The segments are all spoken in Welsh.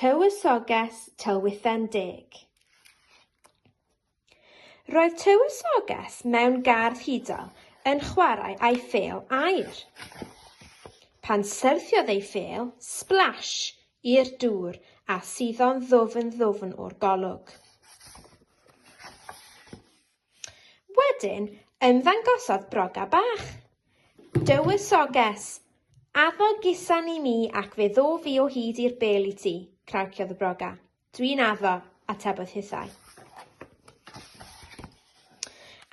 Tywysoges Tylwythen Deg Roedd tywysoges mewn gardd hudol yn chwarae â'i phêl aer. Pan syrthiodd ei phêl, splash, i'r dŵr a suddo'n ddwfn ddwfn o'r golwg. Wedyn, ymddangosodd broga bach. Dywysoges! Addo gusan i mi ac fe ddo fi o hyd i'r bel i ti, craciodd y broga. Dwi'n addo, atebodd hithau.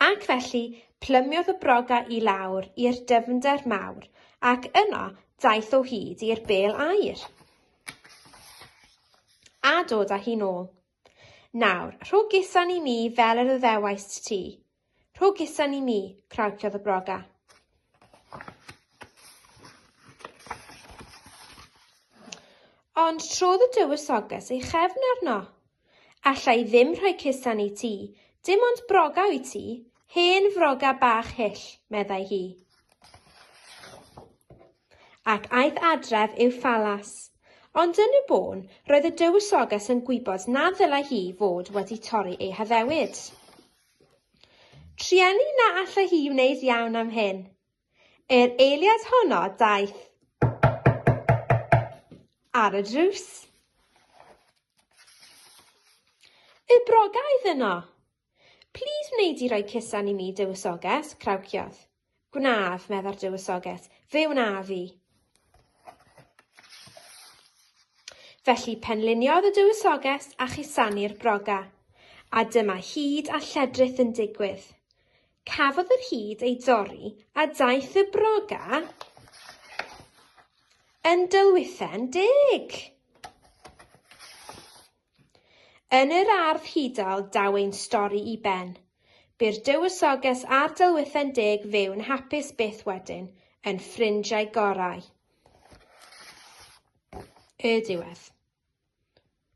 Ac felly, plymiodd y broga i lawr i'r dyfnder mawr, ac yno daeth o hyd i'r bel aer. A dod â hi'n ôl. Nawr, rho gusan i mi fel yr yddewaist ti. Rho gusan i mi, crawciodd y broga. Ond trodd y dywysoges ei chefn arno. Alla i ddim rhoi cusan i ti, dim ond broga wyt ti, hen froga bach hyll, meddai hi. ac aeth adref i'w phalas. Ond yn y bôn, roedd y dywysoges yn gwybod na ddylai hi fod wedi torri ei haddewid. Trueni na allai hi wneud iawn am hyn. Yr eiliad honno daeth ar y drws. Y brogaidd yno! Plîs wneud i roi cusan i mi, Dywysoges, crawciodd. Gwnaf, meddai'r Dywysoges, fe wnaf i. Felly penliniodd y Dywysoges a chusanu'r broga, a dyma hyd a lledrith yn digwydd. Cafodd yr hyd ei dorri a daeth y broga yn dylwythen deg. Yn yr ardd hudol daw ein stori i ben. Bu'r dywysoges a'r delwydden deg fyw'n hapus byth wedyn, yn ffrindiau gorau. Y diwedd.